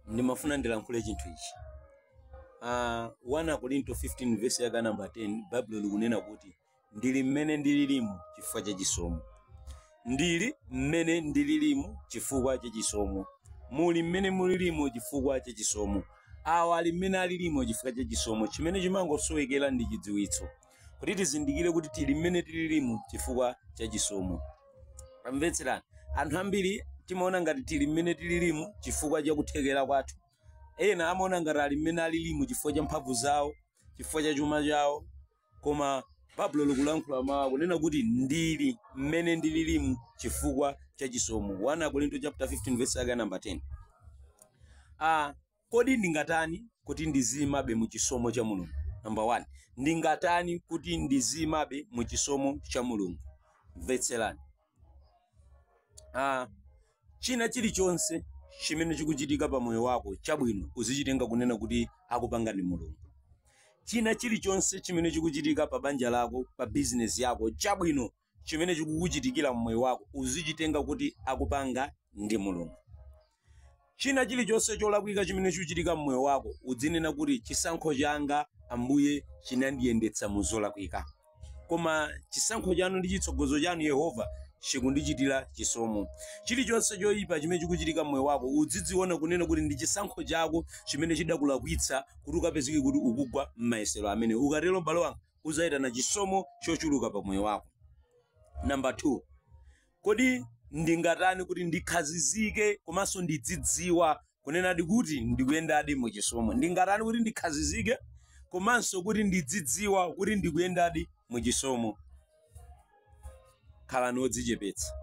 ndimafuna ndilankhule chinthu ichi uh, 1 akorinto 15 vesi yake namba 10 baibulo likunena kuti ndili mmene ndililimu chifukwa cha chisomo ndili mmene ndililimu chifukwa cha chisomo muli mmene mulilimu chifukwa cha chisomo awa ali mmene alilimu chifukwa cha chisomo chimene chimangosowekera ndi chidziwitso kuti tizindikire kuti tili mmene tililimu chifukwa cha chisomo tamvetserani anthu ambiri timaona ngati tili mmene tililimu chifukwa cha kuthekera kwathu ena amaona ngati ali mmene alilimu chifukwa cha mphamvu zawo chifukwa cha chuma chawo koma baibulo likulankhula mawu akunena kuti ndili mmene ndililimu chifukwa cha chisomo 1 akorinto chapter 15 verse yake namba 10 ah Kodi Ndingatani Kuti Ndiziimabe mu Chisomo cha Mulungu? Number 1, Ndingatani Kuti Ndiziimabe mu Chisomo cha Mulungu? Mvetserani. Ah, china chilichonse chimene chikuchitika pa moyo wako chabwino uzichitenga kunena kuti akupanga ndi Mulungu. China chilichonse chimene chikuchitika pa banja lako, pa bizinesi yako chabwino chimene chikukuchitikira mmoyo wako uzichitenga kuti akupanga ndi mulungu china chilichonse cholakwika chimene chikuchitika mmoyo wako udzinena kuti chisankho changa ambuye chinandiyendetsa mu zolakwika koma chisankho chanu ndi chitsogozo chanu yehova chikundichitira chisomo chilichonse choyipa chimene chikuchitika mmoyo wako udzidziona kunena kuti ndi chisankho chako chimene chidakulakwitsa kuti ukapezeke kuti ukugwa m'mayesero amene ukatero m'bale wanga udzayitana chisomo chochuluka pa moyo wako namba 2 kodi ndingatani kuti ndikhazizike komanso ndidzidziwa kunenadi kuti ndikuyendadi mu chisomo ndingatani kuti ndikhazizike komanso kuti ndidzidziwa kuti ndikuyendadi mu chisomo khalani odzichepetsa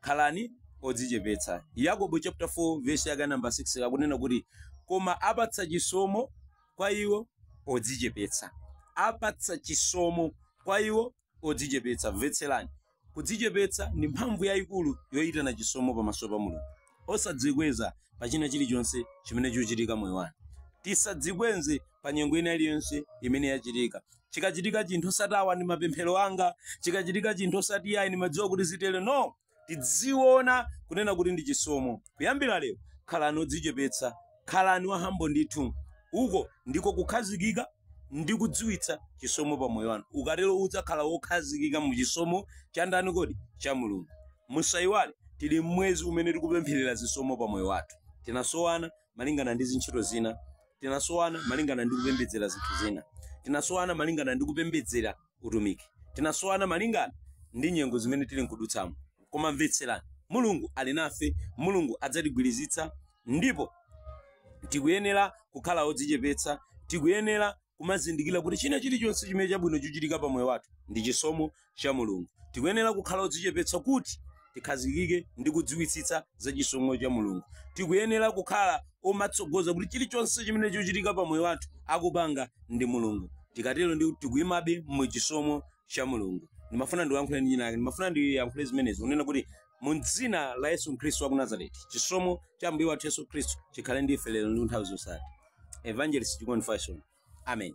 Khalani odzichepetsa. Yakobo chapter 4 verse yake namba 6 akunena kuti koma apatsa chisomo kwa iwo odzichepetsa. Apatsa chisomo kwa iwo odzichepetsa. Mvetserani. Kudzichepetsa ndi mphamvu yayikulu yoyitana chisomo pamaso pa Mulungu. Osadzikweza pa china chilichonse chimene chikuchitika mmoyo wanu. Tisadzikweze pa nyengo ina iliyonse imene yachitika chikachitika chinthu osati awa ndi mapemphero anga chikachitika chinthu osati iyayi ndimadziwa kuti zitere no tidziona kunena kuti ndi chisomo kuyambira lero khalani odzichepetsa khalani wa humble ndithu uko ndiko kukhazikika ndi kudziwitsa chisomo pa moyo wanu ukatero udzakhala wokhazikika mu chisomo cha ndani kodi cha mulungu musayiwale tili mmwezi umene tikupempherera zisomo pa moyo wathu tinasowana malingana ndi zintchito zina tinasowana malingana ndi kupembedzera zinthu zina tinasowana malingana ndi kupembedzera utumiki tinasowana malingana ndi nyengo zimene tili nkudutsamo koma mvetserani mulungu ali nafe mulungu adzatigwirizitsa ndipo tikuyenera kukhala odzichepetsa tikuyenera kumazindikira kuti china chilichonse chimene chabwino chochitika pa moyo wathu ndi chisomo cha Mulungu. Tikuyenera kukhala odzichepetsa kuti tikhazikike ndi kudziwitsitsa za chisomo cha Mulungu. Tikuyenera kukhala omatsogoza kuti chilichonse chimene chochitika pa moyo wathu akupanga ndi Mulungu. Tikatero ndi tikuyimabe mu chisomo cha Mulungu. Ndimafuna ndiyankhule ndi winawake, ndimafuna ndiyankhule zimenezi kunena kuti mu dzina la Yesu Khristu wa ku Nazareti, chisomo cha Ambuye wathu Yesu Khristu chikhale ndi ife lero ndi nthawi zosatha. Evangelist Chikondi Fashion. Amen.